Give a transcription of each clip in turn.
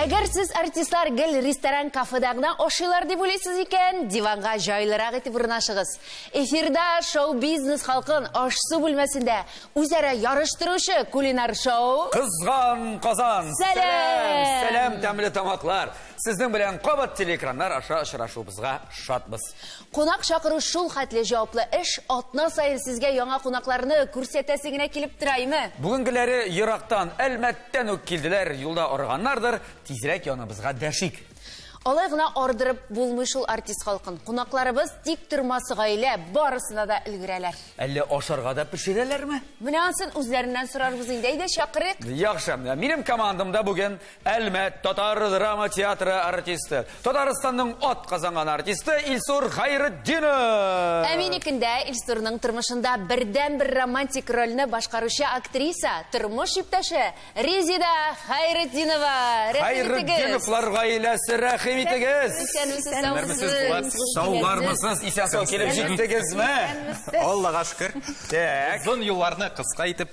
Әгәр сез артистлар гел ресторан кафеда гына ашыйлар дип уйлыйсыз икән, диванга җайлырак итеп урнашыгыз. Эфирда шоу-бизнес халкын аш-су бүлмәсендә үзара ярыштыручы кулинар шоу Кызган Казан. Сәлам! Сәлам, тәмле тамаклар. Сезнең белән кабат телеэкраннар аша очрашуыбызга шатбыз. Кунак чакыру шул хәтле җаваплы эш, атна саен сезгә яңа кунакларны күрсәтәсе генә килеп тораймы? Бүгенгеләре ерактан, Әлмәттән үк килделәр, юлда арыганнардыр, тизрәк яныбызга дәшик. Алай гына ардырып булмый шул артист халкын. Кунакларыбыз тиктормас гаилә, барысына да өлгерәләр. Әллә ашарга да пешерәләрме? Менә ансын үзләреннән сорарбыз инде, әйдә, чакырыйк. Яхшы, минем командамда бүген Әлмәт татар драма театры артисты, Татарстанның ат казанган артисты Илсур Хәйретдинов. Ә минекендә Илсурның тормышында бердән бер романтик рольне башкаручы актриса, тормыш иптәше Резида Хәйретдинова. Хәйретдиновлар гаиләсе рәхим итегез. Саулармысыз, исән сау килеп җиттегезме? Аллага шөкер. Так. Озын юлларны кыска итеп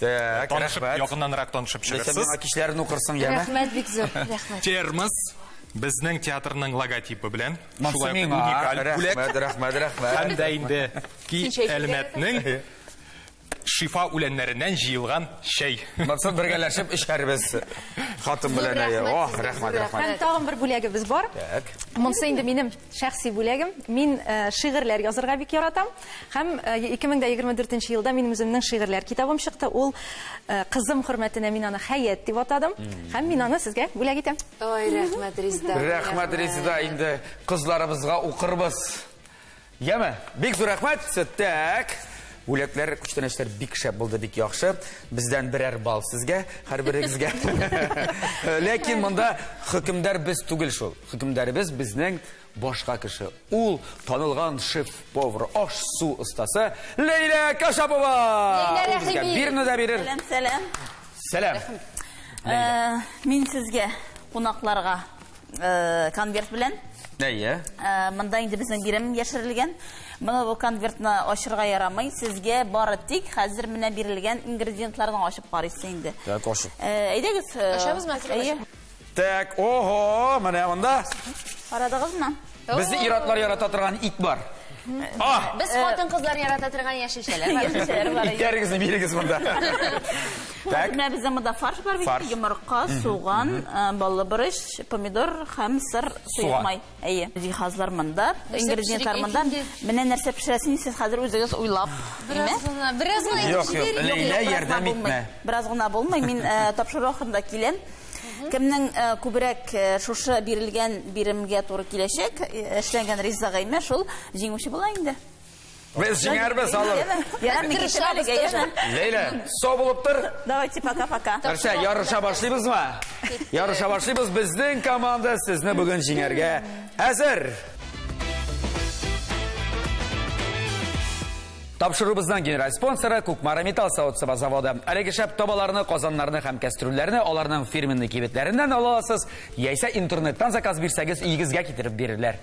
Так, танышып, рәхмәт. Якыннанрак танышып чыгырсыз. Нәрсә миңа кичләрен укырсың, яме? Рәхмәт бик зур. Рәхмәт. Термос безнең театрның логотипы белән. Монсы миңа. Рәхмәт, рәхмәт, рәхмәт. Һәм дә инде ки Әлмәтнең шифа үләннәреннән җыелган чәй. Монсы бергәләшеп эчәрбез хатын белән. Ох, рәхмәт, рәхмәт. Һәм тагын бер бүләгебез бар. Так. Монсы инде минем. Шәхси бүләгем, мин шигырьләр язырга бик яратам. Һәм 2024 нче елда минем үземнең шигырьләр китабым чыкты. Ул кызым хөрмәтенә мин аны Хәят дип атадым. Һәм мин аны сезгә бүләк итәм. Ой, рәхмәт, Резда. Рәхмәт, Резда. Инде кызларыбызга укырбыз. Яме, бик зур рәхмәт. Тәк. Бүләкләр, күчтәнәчләр бик шәп булды, бик яхшы. Бездән берәр бал сезгә, һәрберегезгә. Ләкин монда хөкемдар без түгел шул. Хөкемдарыбыз безнең башка кеше. Ул танылган шеф-повар, аш-су остасы Ләйлә Кашапова! Ләйлә Рәхими! Бирне дә бирер. Сәлам, сәлам. Сәлам. Э, мин сезгә кунакларга э, конверт белән. Әйе. Э, монда инде безнең бирем яшерелгән. Моны бу конвертны ачырга ярамый. Сезгә бары тик хәзер менә бирелгән ингредиентларны ачып карыйсы инде. Так, ачып. Әйдәгез. Ачабызмы? Әйе. Так, ого, менә монда. Карадыгызмы? Безне иратлар ярата торган ит бар. А! Без э, хатын кызлар ярата торган яшелчәләр бар. Яшелчәләр бар. Итләрегезне бирегез монда. Так. Менә бездә монда фарш бар бит, йомырка, суган, э, баллы борыч, помидор һәм сыр суймай. Әйе. Җиһазлар монда, ингредиентлар монда. Менә нәрсә пешерәсен сез хәзер үзегез уйлап. Бераз гына, бераз гына. Юк, юк, Ләйлә ярдәм итмә. Бераз гына булмый, мин э, тапшыру ахырында киләм. Кемнең э, күбрәк э, шушы бирелгән биремгә туры киләчәк, э, эшләнгән риза гыймә шул җиңүче була инде. Без җиңәрбез, алыр. Ярар, мин китәм әлегә, яме. Ләйлә, со булып тор. Давайте, пока-пока. Нәрсә, ярыша башлыйбызмы? Ярыша башлыйбыз. Безнең команда сезне бүген җиңәргә әзер. Тапшырубызның генераль спонсоры Кукмара металл савыт-саба заводы. Әлеге шәп табаларны, казаннарны һәм кәстрүлләрне аларның фирменный кибетләреннән ала аласыз, яисә интернеттан заказ бирсәгез, өегезгә китереп бирерләр.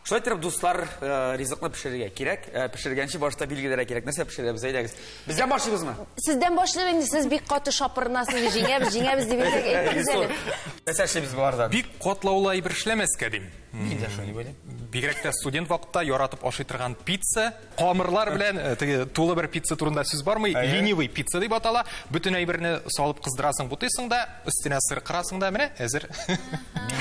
Шулай итеп, дуслар, э, ризыкны пешерергә кирәк. Э, пешергәнче башта билгеләргә кирәк. Нәрсә пешерәбез, әйдәгез. Бездән башлыйбызмы? Сездән башлыйм инде, сез бик каты шапырынасыз, җиңәбез, җиңәбез дип әйтсәк, әйтегез әле. Нәрсә эшлибез болардан? Бик катлаулы әйбер эшләмәскә дим. Мин дә шуны беләм. Бигрәк тә студент вакытта яратып ашый торган пицца, камырлар белән э, теге тулы бер пицца турында сүз бармый, ленивый пицца дип атала. Бөтен әйберне салып кыздырасың, бутыйсың да, өстенә сыр кырасың да, менә әзер.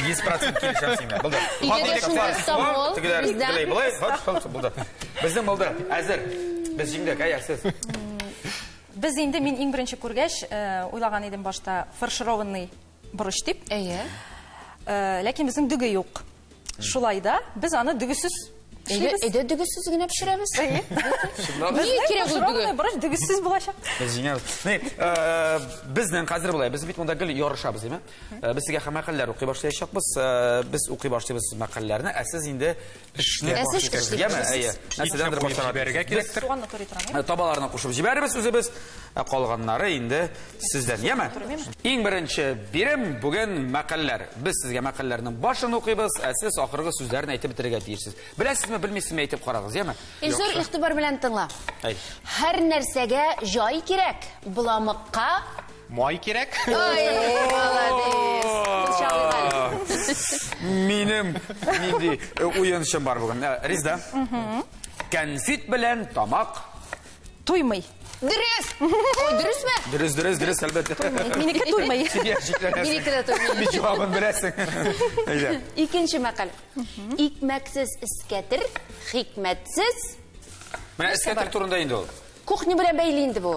100% килешәм сиңа. Булды. Өйдә шундый стамбул. Тегеләр, тегеләр, булай, хач, хач, булды. Безнең булды. Әзер. Без җиңдек, әйе, сез. Без инде мин иң беренче күргәч, э, уйлаган идем башта фаршированный Борыч дип. Әйе. Э, ләкин безнең дөге юк. Шулай да без аны дөгесез Әйдә, әйдә дөгесез генә пешерәбез. Әйе. Ни кирәк ул дөге? Борыч дөгесез булачак. Без җиңәбез. Ни, э, безнең хәзер булай. Без бит монда гел ярышабыз, димме? Э, без сезгә мәкаләләр укый башлаячакбыз. Э, без укый башлыйбыз мәкаләләрне, ә сез инде Эшне Ә сез башлыйсыз. эшлик Яме, әйе. җибәрсез. Нәрсәдән бер башларга Җибәрергә тиеш. кирәктер. Суганны турый торам, Ә, Табаларына кушып җибәребез үзебез, ә калганнары инде сездән. Яме. Иң беренче бирем бүген мәкальләр. Без сезгә мәкальләрнең башын укыйбыз, ә сез ахыргы сүзләрен әйтеп бетерергә тиешсез. Беләсезме, белмисезме әйтеп карагыз, яме? И зур игътибар белән тыңла. Әйт. Һәр нәрсәгә җай кирәк, боламыкка Май кирәк. Ай, молодец. Кулчалыйм әле. Минем нинди э, уенчым бар бүген. Э, Ризда. Кәнфит белән тамак. Туймый. Дөрес! Ой, дөресме? Дөрес, дөрес, дөрес, әлбәттә. Минеке туймый. Сидя, шикләнәсең. Минеке дә туймый. Бит җавабын беләсең. Әйдә. Икенче мәкаль. Икмәксез эскәтер, хикмәтсез. Менә эскәтер турында инде ул. Кухня белән бәйле инде бу.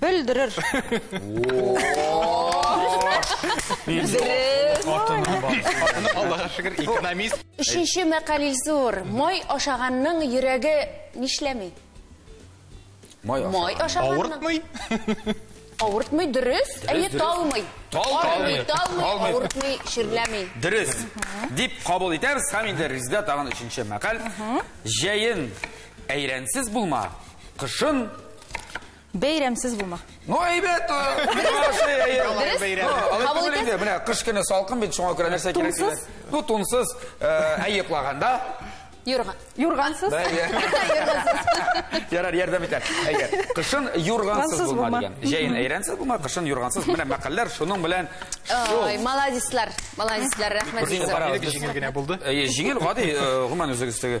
Белдерер. Аллага шөкер, экономист. Өченче мәкаль зур. Май ашаганның йөрәге нишләми? Май ашаганның. Май ашаганның. Авыртмый? Авыртмый, дөрес. Әйе, талмый. Талмый, талмый, авыртмый, ширләми. Дөрес. Дип кабул итәбез һәм инде Резидә тагын өченче мәкаль. Җәен әйрәнсез булма, кышын Бәйрәмсез булма. Ну, әйбәт, әйбәт. Менә кыш көне салкын бит, шуңа күрә нәрсә кирәк дигән. Ну, тунсыз, әйе клаганда. Юрган. Юргансыз. Ярар, ярдәм итә. Әйе. Кышын юргансыз булма дигән. Җәен әйрәнсез булма, кышын юргансыз. Менә мәкалләр шуның белән шул. Ой, молодецлар. Молодецлар, рәхмәт. Җиңел генә булды. Әйе, җиңел, гади, гомумән үзегездәге.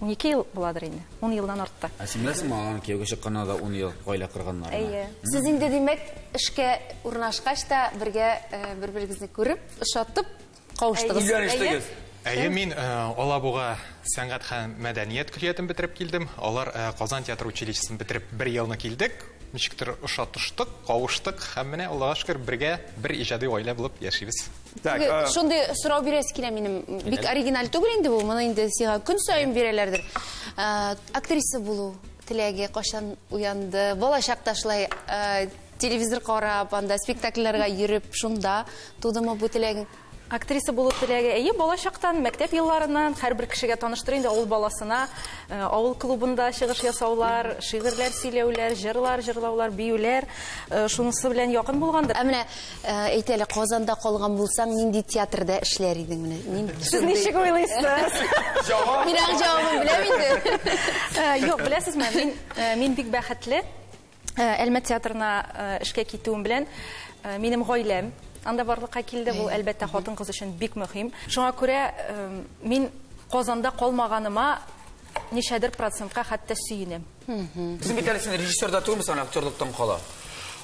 Унике ел буладыр инде, ун елдан артты. Ә син беләсеңме, аларның кияүгә чыкканына да ун ел гаилә корганнарын? Әйе. Сез инде, димәк, эшкә урнашкач та бергә э, бер-берегезне күреп, ошатып кавыштыгыз. Өйләнештегез. Әйе, мин э, Алабуга сәнгать һәм мәдәният көллиятен бетереп килдем. Алар э, Казан театр училищесын бетереп бер елны килдек. Ничектер ошатыштык, кавыштык һәм менә Аллага шөкер, бергә бер иҗади гаилә булып яшибез. Так, Теге, э, Шундый сорау бирәсе килә минем. Бик оригиналь түгел инде бу. Моны инде сиңа көн саен бирәләрдер. Э, Актриса булу теләге кайчан уянды? Балачакта шулай э, телевизор карап, анда спектакльләргә йөреп, шунда тудымы бу теләгең? Актриса булу теләге әйе балачактан, мәктәп елларыннан һәрбер кешегә таныштыр инде авыл баласына э, авыл клубында чыгыш ясаулар, шигырьләр сөйләүләр, җырлар җырлаулар, биюләр э, шунысы белән якын булгандыр. Ә менә Ә, әйт әле, Казанда калган булсаң, нинди театрда эшләр идең менә? Мин Сез ничек уйлыйсыз? Җавап. Мин аның җавабын беләм инде. Ә, Юк, беләсезме, мин ә, мин бик бәхетле. Ә, Әлмәт театрына ә, эшкә китүем белән ә, минем гаиләм анда барлыкка килде. Бу, әлбәттә, хатын-кыз өчен бик мөһим. Шуңа күрә ә, мин Казанда калмаганыма ничәдер процентка хәтта сөенәм. Син бит әле син режиссер да түгелме соң актерлыктан кала?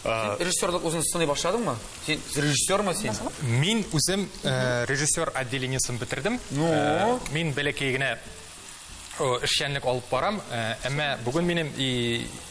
Режиссерлык үзен сыный башладыңмы? Син режиссермы син? Мин үзем э, режиссер отделениесен бетердем. Ну? Э, мин бәләкәй генә эшчәнлек алып барам. Э, әмма бүген минем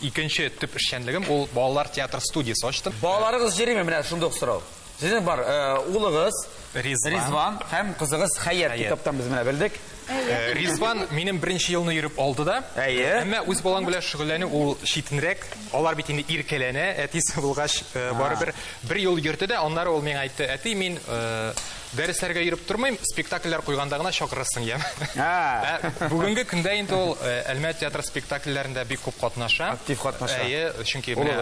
икенче төп эшчәнлегем ул балалар театр студиясе ачтым. Балаларыгыз җыримы менә шундый сорау? Сезнең бар улыгыз Ризван һәм кызыгыз Хәят китаптан без менә белдек. Э, Ризван минем беренче елны йөреп алды да. Әйе. Әмма үз балаң белән шөгыльләнү ул читенрәк. Алар бит инде иркәләнә, әтисе булгач, э, барыбер бер ел йөрде дә, аннары ул миңа әйтте, әти, мин э, дәресләргә йөреп тормыйм, спектакльләр куйганда гына чакырырсың, я. Ә, Бүгенге көндә инде ул Әлмәт театры спектакльләрендә бик күп катнаша. Актив катнаша. Әйе, чөнки менә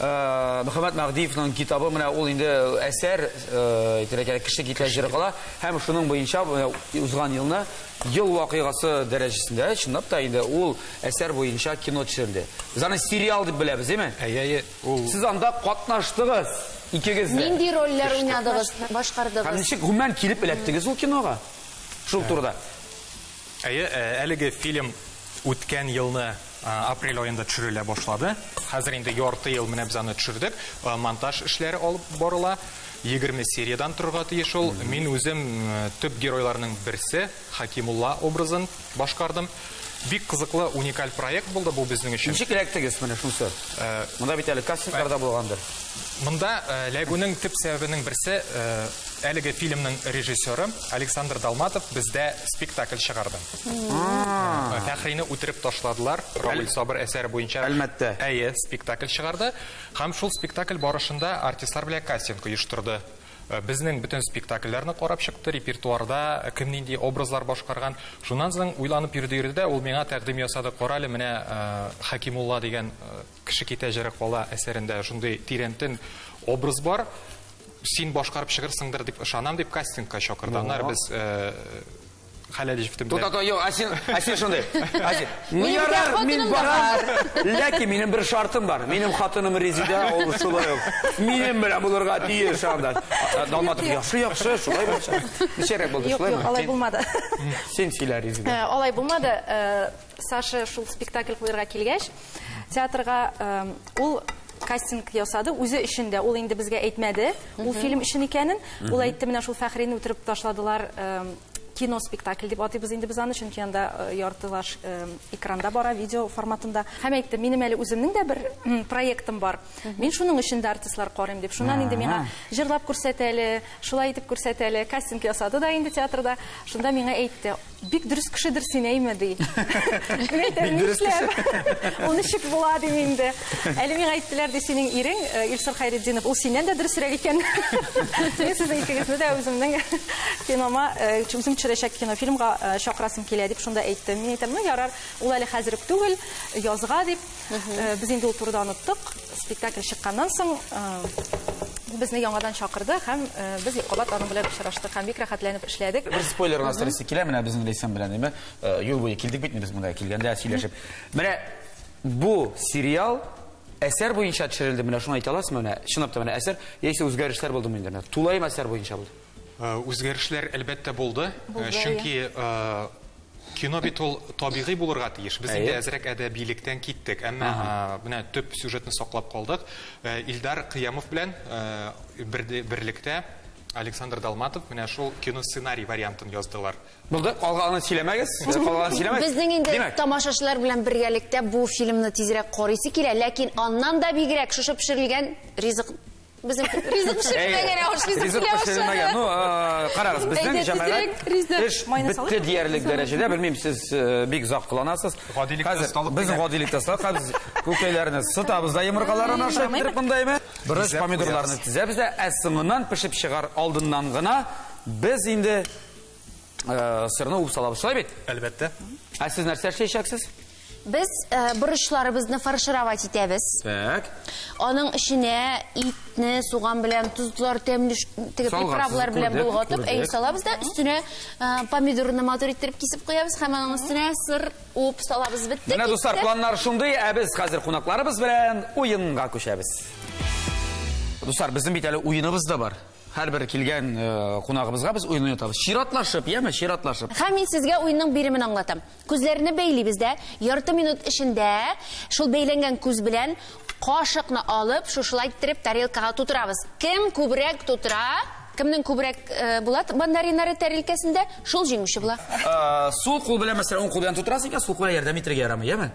Мөхәммәд Мәгъдиевның китабы менә ул инде әсәр тирәкәле кеше китлә җыры кала һәм шуның буенча узган елны ел вакыйгасы дәрәҗәсендә чынлап та инде ул әсәр буенча кино төшерелде. Без аны сериал дип беләбез, әйме? Әйе, ул. Сез анда катнаштыгыз икегез дә. Нинди рольләр уйнадыгыз, башкардыгыз? Һәм ничек гомумән килеп эләктегез ул кинога? Шул турыда. Әйе, әлеге фильм үткән елны Апрель аенда төшерелә башлады. Хәзер инде ярты ел менә без аны төшердек. Монтаж эшләре алып барыла. 20 сериядән торырга тиеш ул. Мин үзем төп геройларның берсе, Хакимулла образын башкардым. Бик кызыклы, уникаль проект булды бу безнең өчен. Ничек эләктегез менә шунысы? Монда бит әле кастингларда булгандыр. Монда эләгүнең төп сәбәбенең берсе, әлеге фильмның режиссеры Александр Долматов бездә спектакль чыгарды. Фәхрине үтереп ташладылар. Равил Сабыр әсәре буенча Әлмәттә. Әйе, спектакль чыгарды. Һәм шул спектакль барышында артистлар белән кастинг оештырды. Э, безнең бөтен спектакльләрне карап чыкты, репертуарда э, кем нинди образлар башкарган. Шуннан соң уйланып йөрде йөрде дә, ул миңа тәкъдим ясады. Кара әле, менә э, Хәкимулла дигән кеше китә җыры кала әсәрендә шундый тирәнтен образ бар. Син башкарып чыгырсыңдыр дип ышанам дип кастингка чакырды. Аннары без Хәләл җифте белән. Тукта, тукта, юк, Асин, Асин шундый. Асин. Ну ярар, мин барам. Ләкин минем бер шартым бар. Минем хатыным Резидә, ул шулай ук. Минем белән булырга тиеш анда. Далматов яхшы, яхшы, шулай булса. Ничәрәк булды, шулаймы? Юк, алай булмады. Син сөйлә, Резидә. Алай булмады. Саша шул спектакль куярга килгәч, театрга ул кастинг ясады, үзе өчен дә. Ул инде безгә әйтмәде, ул фильм өчен икәнен. Ул әйтте, менә шул Фәхрине үтереп ташладылар, кино спектакль дип атыйбыз инде без аны, чөнки анда э, яртылаш э, экранда бара, видео форматында. Һәм әйтте, минем әле үземнең дә бер проектым бар. Мин шуның өчен дә артистлар карыйм дип. Шуннан инде миңа җырлап күрсәт әле, шулай итеп күрсәт әле. Кастинг ясады да инде театрда. Шунда миңа әйтте, Бик дөрес кешедер син, әйме, ди. Бик дөрес кеше. Ул ничек була, дим инде. Әле миңа әйттеләр, ди, синең ирең, э, Илсур Хайретдинов, ул синнән дә дөресрәк икән. Син сезнең икегезне дә үземнең кинома, э, үзем төшерәчәк кинофильмга э, чакырасым килә, дип шунда әйттем. Мин әйтәм, ну, ярар, ул әле хәзер үк түгел, язга, дип. Э, без инде ул турыда оныттык. Спектакль чыкканнан соң э, безне яңадан чакырды һәм э, без Юкабат аның белән очраштык һәм бик рәхәтләнеп эшләдек. Бер спойлер гына стрессе килә менә безнең Лейсан белән, димә. Юл буе килдек бит без монда килгәндә сөйләшеп. Менә бу сериал әсәр буенча төшерелде. Менә шуны әйтә аласызмы менә? Чынлап та менә әсәр яисә үзгәрешләр булдымы инде? Тулаем әсәр буенча булды. Э, үзгәрешләр әлбәттә булды, э, чөнки э, кино бит ул табигый булырга тиеш. Без инде әзрәк әдәбилектән киттек, әмма менә төп сюжетны саклап калдык. Илдар Кыямов белән берлектә Александр Далматов менә шул кино сценарий вариантын яздылар. Булды, калганын сөйләмәгез. Калганын сөйләмәгез. Безнең инде тамашачылар белән бергәлектә бу фильмны тизрәк карыйсы килә, ләкин аннан да бигрәк шушы пешерелгән ризык Безнең ризык пешерелмәгән, ә аш ризык белән пешерелмәгән. Ну, карагыз, безнең җәмәгать эш бетте диярлек дәрәҗәдә, белмим, сез бик озак кыланасыз. Хәзер безнең гадилектә сакабыз, күкәйләрне сытабыз да йомыркаларын ашап бетереп мондаймы? Бераз помидорларны тезәбез дә, ә соңыннан пешеп чыгар алдыннан гына без инде э, сырны уып салабыз, шулай бит? Әлбәттә. Ә сез нәрсә эшләячәксез? Без э, борычларыбызны фаршировать итәбез. Так. Аның эченә итне суган белән тозлар, тәмле ш- теге Салгансыз, приправлар белән күрдек, болгатып, күрдек. әйе салабыз да өстенә э, помидорны матур иттереп кисеп куябыз һәм аның өстенә сыр уып салабыз. Бетте. Менә китте. дуслар, планнар шундый, ә без хәзер кунакларыбыз белән уенга күчәбез. Дуслар, безнең бит әле уеныбыз да бар. Һәрбер килгән кунагыбызга без уен уйнатабыз. Чиратлашып, яме, чиратлашып. Һәм мин сезгә уенның биремен аңлатам. Күзләрне бәйлибез дә, ярты минут эчендә шул бәйләнгән күз белән кашыкны алып, шушылай иттереп тарелкага тутырабыз. Кем күбрәк тутыра, кемнең күбрәк була мандариннары тәрилкәсендә, шул җиңүче була. Сул кул белән, мәсәлән, уң кул белән тутырасы икән, сул кулга ярдәм итәргә ярамый, яме?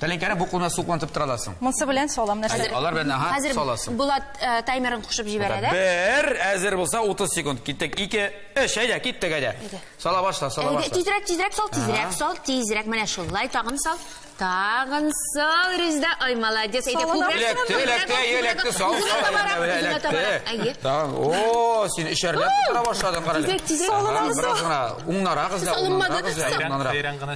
Тәлинкәне бу кулына су куантып тора аласың. Монсы белән салам нәрсә? Алар белән аһа Хәзер саласың. Булат э, таймерын кушып җибәрә дә. Бер, әзер булса 30 секунд. Киттек. 2, 3, әйдә, киттек әйдә. Сала башла, сала Әйдә, башла. тизрәк, тизрәк сал, тизрәк сал, тизрәк. Менә шулай тагын сал. Тагын сал, Резда. Ай, молодец. Әйдә, Салам. күбрәк. Эләкте, күбрәк, эләкте, күбрәк, эләкте, сал, Үзенә сал, табарак, әйдә, үзенә эләкте. табарак. Әйе. Тагын, о, син эчәрләп тора башладың, карале. Тизрәк, тизрәк. Ага, Бераз гына, уңнарак эзлә, Салынмады, уңнарак эзлә, салынмады. уңнанрак. Бәйрәм гына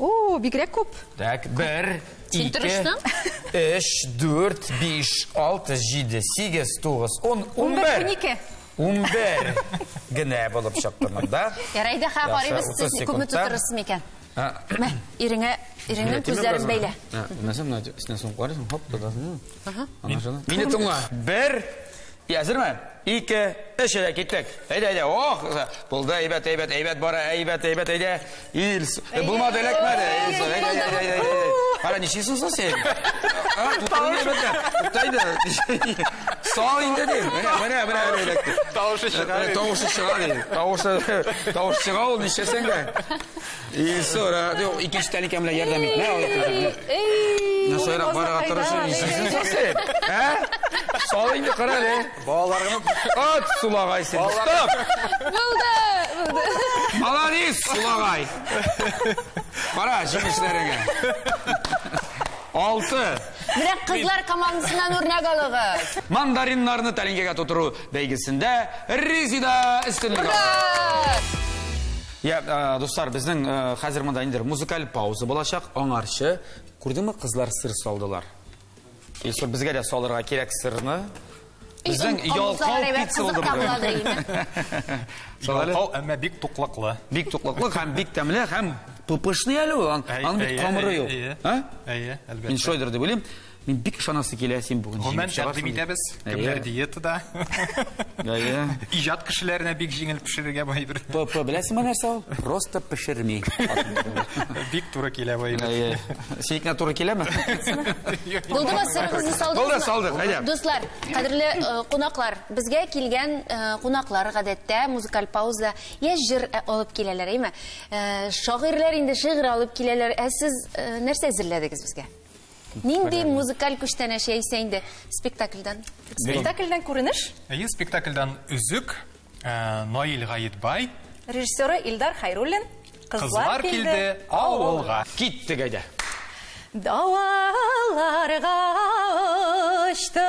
О, бигрәк күп. Так, бер, Син ике, тырыштың? өч, дүрт, биш, алты, җиде, сигез, тугыз, ун, ун бер, унике. Ун бер генә булып чыкты монда. Ярай да ха, карыйбыз, сез күпме тутырырсыз микән? Мә, иреңә, иреңнең күзләрен бәйлә. Нәрсә, менә өстенә сумып карыйсың, хоп, тотасың. Ага. Мине тыңла. Бер, И әзерме? Ике, өч, әйдә, киттек. Әйдә, әйдә, ох! Булды, әйбәт, әйбәт, әйбәт бара, әйбәт, әйбәт, әйдә. Ил, э, булмады, эләкмәде. Әйдә, әйдә, әйдә, әйдә, әйдә. Ара, ничесен соң сен? Тутырын әйбәтә. Туктайды. Сал инде дим. Менә, менә, менә, менә эләкте. Тавышы чыга. Тавышы чыга, дим. Тавышы, тавышы чыга ул, ничесен дә. И, сора, икенче тәлинкә белән ярдәм ит. Нә алып? Эй! Насыйра барга тырышып исәсен сасен. Ә? Сал инде кара әле. Балаларга ат сулагай син. Стоп! Булды, булды. Молодец, сулагай. Кара җимешләреңә. Алты. Менә кызлар командасыннан үрнәк алыгыз. Мандариннарны тәлинкәгә тутыру бәйгесендә Резида өстенлек алды. Я, э, дуслар, безнең э, хәзер монда инде музыкаль пауза булачак, аңарчы. Күрдеңме, кызлар сыр салдылар. Исур безгә дә салырга кирәк сырны. Безнең ялкау пицца булды бүген. Ялкау, әмма бик туклыклы. Бик туклыклы һәм бик тәмле һәм пупышный әле ул. Аның бит камыры юк. Әйе, әлбәттә. Мин шойдер дип уйлыйм. Мин бик ышанасы килә, син бүген Гомумән тәкъдим итәбез. Кемнәр диетада. Әйе. Иҗат кешеләренә бик җиңел пешерергә бу әйбер. ПП беләсеңме нәрсә ул? Просто пешерми. Бик туры килә бу әйбер. Әйе. Синекенә туры киләме? Булдымы сырыгызны салдыгызмы? Булды, салдык. Әйдә. Дуслар, кадерле э, кунаклар, безгә килгән э, кунаклар гадәттә музыкаль пауза я җыр э, алып киләләр, әйме? Шагыйрьләр инде шигырь алып киләләр. Ә сез нәрсә әзерләдегез безгә? Нинди музыкаль күчтәнәч яисә инде спектакльдан? Спектакльдән күренеш. Әйе, спектакльдан Өзек, э, Наил Гаетбай. Режиссеры Илдар Хайруллин. Кызлар килде авылга. Киттек әйдә. Далаларга очты.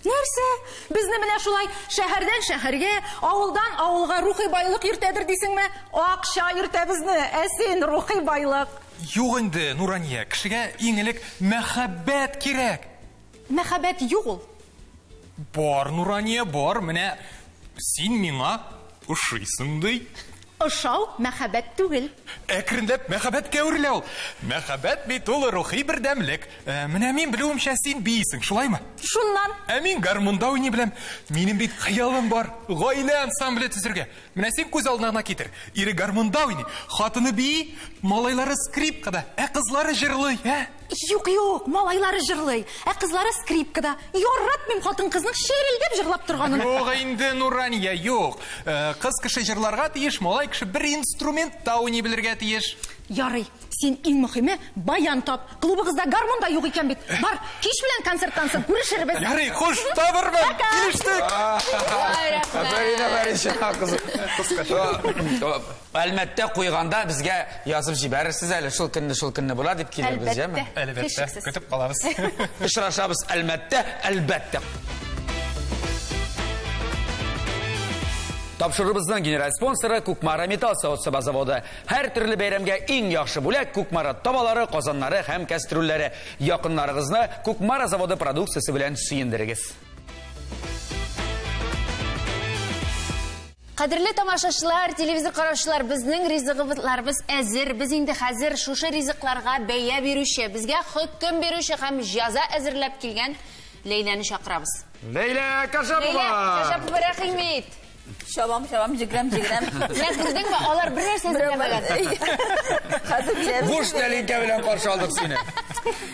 Нәрсә? Безне менә шулай шәһәрдән шәһәргә, авылдан авылга рухи байлык йөртәдер дисеңме? Акча йөртә безне, ә син рухи байлык. Юк инде, Нурания, кешегә иң элек мәхәббәт кирәк. Мәхәббәт юк ул. Бар, Нурания, бар, менә син миңа ошыйсың ди. Ошау, мәхәббәт түгел. Әкренләп мәхәббәткә әверелә ул. Мәхәббәт бит ул рухи бердәмлек. Менә мин белүемчә, син биисең, шулаймы? Шуннан. Ә мин гармунда уйный беләм. Минем бит хыялым бар, гаилә ансамбле төзергә. Менә син күз алдына гына китер, ире гармунда уйный, хатыны бии, малайлары скрипкада, ә кызлары җырлый, ә? Юк, юк, малайлары җырлый, ә кызлары скрипкада. Яратмыйм хатын-кызның шерелдәп җырлап торганын. Юк инде, Нурания, юк. Э, кыз кеше җырларга тиеш, малай кеше бер инструмент та уйный белергә тиеш. Ярый, син иң мөхиме баян тап. Клубыгызда гармон да юк икән бит. Бар, кич белән концерттан соң күрешербез. Ярый, хуш, табырмын. Килештек. Афәрин, афәрин, чыга кызым. Кыскача. Әлмәттә куйганда безгә язып җибәрерсез әле, шул көнне, шул көнне була дип килербез, яме? Әлбәттә, көтеп калабыз. Очрашабыз Әлмәттә, әлбәттә. Тапшырыбызның генераль спонсоры Кукмара металл савытсыба заводы. Һәр төрле бәйрәмгә иң яхшы бүләк Кукмара табалары, казаннары һәм кәстрүлләре. Якыннарыгызны Кукмара заводы продукциясе белән сөендерегез. Кадерле тамашачылар, телевизор караучылар, безнең ризыгыбызларыбыз әзер. Без инде хәзер шушы ризыкларга бәя бирүче, безгә хөкем бирүче һәм җаза әзерләп килгән Ләйләне чакырабыз. Ләйлә Кашапова! Ләйлә Кашапова, рәхимит! Чабам, чабам, җигрәм, җигрәм. Менә күрдеңме, алар бер нәрсә эзләмәгән. Буш тәлинкә белән каршы алдык сине.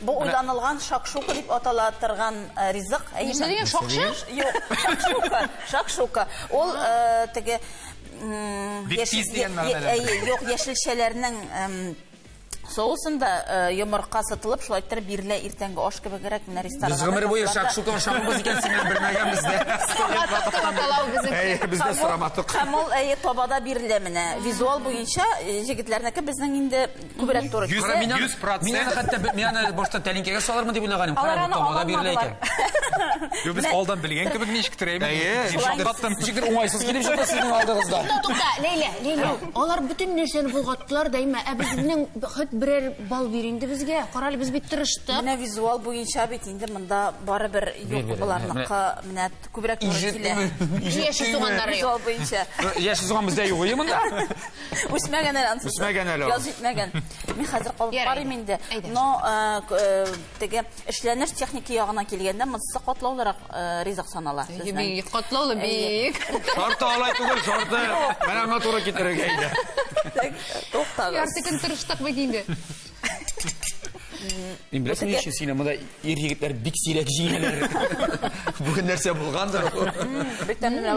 Бу уйланылган шакшука дип атала торган ризык. Нәрсә дигән? Шакшы? Юк, шакшука. Шакшука. Ул теге юк, яшелчәләрнең соусында йомырка сытылып, шулай иттереп бирелә иртәнге аш кебегрәк менә рестораннарда. Без гомер буе шакшука ашаганбыз икән, син менә белмәгәнбез дә. Без дә сорамадык. Һәм ул табада бирелә менә. Визуал буенча җегетләрнеке безнең инде Күбрәк туры. Йөз, Кара, мин аны- йөз процент. Мин аны хәтта б- мин аны башта тәлинкәгә салырмын дип уйлаганым. Алар Кара, бу аны тамада бирелә икән. алмадылар. Юк, без алдан белгән кебек ничектер әйме. Әйе. Дип шаккаттым. Ничектер уңайсыз килеп чыкты сезнең алдыгызда. Тукта, тукта, Ләйлә, Ләйлә. Алар бөтен нәрсәне болгаттылар дәйма. Ә безнең хет берәр бал бир инде безгә. Карале, без бит тырыштык. Менә визуал буенча бит инде монда барыбер Бир, юк бир, боларныкы менә күбрәк туры килә. Ижеттеме? Яши суганнары юк. Визуал буенча. Яши суган бездә юк, әйе монда? Үсмәгән әле ансы. Үсмәгән әле ансы. Яз җитмәгән. Мин хәзер калып карыйм инде. Но теге эшләнеш техники ягына килгәндә монсы катлаулырак ризык санала. Бик катлаулы, бик. Шарты алай түгел, шарты. Менә аңа туры китерергә иде. Туктагыз. Ярты көн тырыштык бит инде. Мин беләсең ни өчен сине монда ир егетләр бик сирәк җиңәләр. Бүген нәрсә булгандыр ул. Бик тәмле.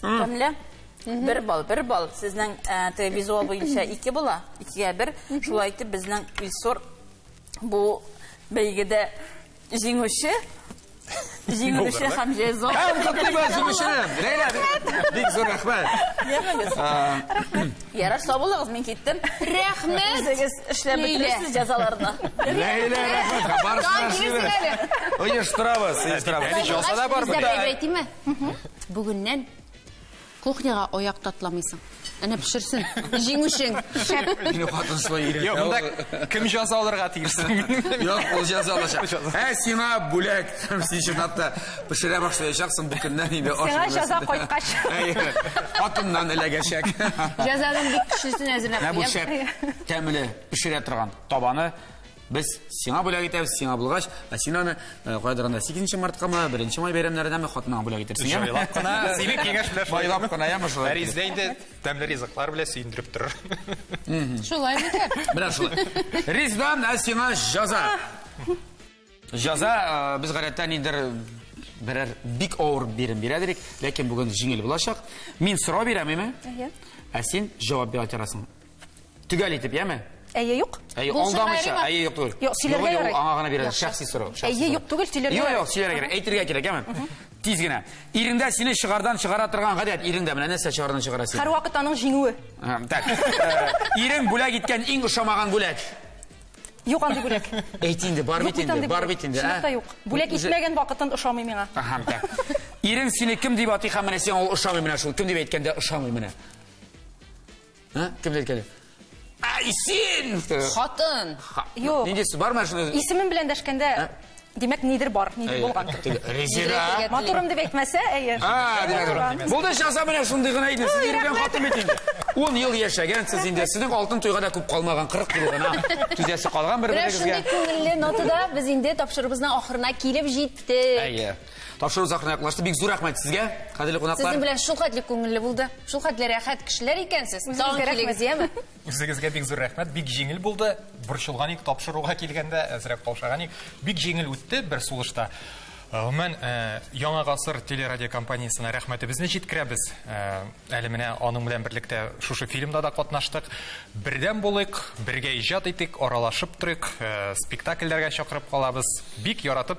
Тәмле. Бер бал, бер бал. Сезнең ә, визуал буенча ике була, икегә бер. Шулай итеп, безнең Илсор бу бәйгедә җиңүче. Җиңүче һәм җәза. Һәм котлыйбыз җиңүчене. Ләйлә, бик зур рәхмәт. Йөрмәгез. Рәхмәт. Ярар, сау булыгыз, мин киттем. Рәхмәт. Үзегез эшләп бетересез җәзаларны. Ләйлә, рәхмәт. Барысына сибер. Оештырабыз, оештырабыз. Әле җаса да бар бит. Әйтиме? Бүгеннән кухняга аяк татламыйсың. Әнә пешерсен. Җиңүшең. Шәп. Мине хатын шулай өйрәтә. Юк, монда кем җаза алырга тиештер? Юк, ул җаза алачак. Ә сиңа бүләк. Син чынлап та пешерә башлаячаксың бу көннән инде. Сиңа җаза кайткач. Хатыннан эләгәчәк. Җазаның бик көчлесен әзерләп куям. Менә бу шәп. Тәмле, пешерә торган табаны. Без сиңа бүләк итәбез, сиңа булгач, ә син аны э, кайдыр анда 8 мартка ма, 1 май бәйрәмнәренә ме хатыныңа бүләк итерсең. яме? Җайлап кына, сине киңәш белән шулай. Байлап кына яме шулай. Фәризә инде тәмле ризыклар белән сөендереп торыр. Шулай микән? Менә шулай. Ризван, ә сиңа җаза. Җаза э, без гадәттә нидер берәр бик авыр бирем бирә дидек, ләкин бүген җиңел булачак. Мин сорау бирәм, әйме? Әйе. Ә син җавап бирә торасың. Төгәл итеп, яме? Әйе, юк. Әйе, алдамыйча, әйе, юк түгел. Юк, сөйләргә ярый. Аңа гына бирәләр, шәхси сорау. Әйе, юк түгел, сөйләргә. Юк, юк, сөйләргә кирәк, әйтергә кирәк, яме? Тиз генә. Ирендә сине шыгардан чыгара торган гадәт, ирендә менә нәрсә шыгардан чыгара сине? Һәр вакыт аның җиңүе. Так. Ирең бүләк иткән иң ошамаган бүләк. Юк андый бүләк. Әйт инде, бар бит инде, бар бит инде. Чынлыкта юк. Бүләк итмәгән вакытын ошамый миңа. Аһа, так. Ирең сине кем дип атый һәм менә сиңа ул ошамый менә шул. Кем дип әйткәндә ошамый менә. Кем дә килә? Ай, син! Хатын! Юк. Нинди су бар машина? Исемем белән дәшкәндә, димәк, нидер бар, нидер булган. Резина! Матурым дип әйтмәсә, әйе. А, димәк, булды часа менә шундый гына иде. Сез йөргән хатын бит инде. 10 ел яшәгәнсез инде. Сезнең алтын туйга да күп калмаган, 40 ел гына. Түзәсе калган бер-берегезгә. Менә шундый күңелле нотада без инде тапшырыбызның ахырына килеп җиттек. Әйе. Тапшыру закына якынлашты. Бик зур рәхмәт сезгә, кадерле кунаклар. Сезнең белән шул хәтле күңелле булды. Шул хәтле рәхәт кешеләр икәнсез. Тагын килегез, яме? Үзегезгә бик зур рәхмәт. Бик җиңел булды. Борчылган ик тапшыруга килгәндә, әзрәк каушаган ик. Бик җиңел үтте бер сулышта. Гомумән, э, Яңа гасыр телерадиокомпаниясенә рәхмәтебезне җиткерәбез. Э, әле менә аның белән берлектә шушы фильмда да катнаштык. Бердәм булыйк, бергә иҗат итик, аралашып торыйк, э, спектакльләргә чакырып калабыз. Бик яратып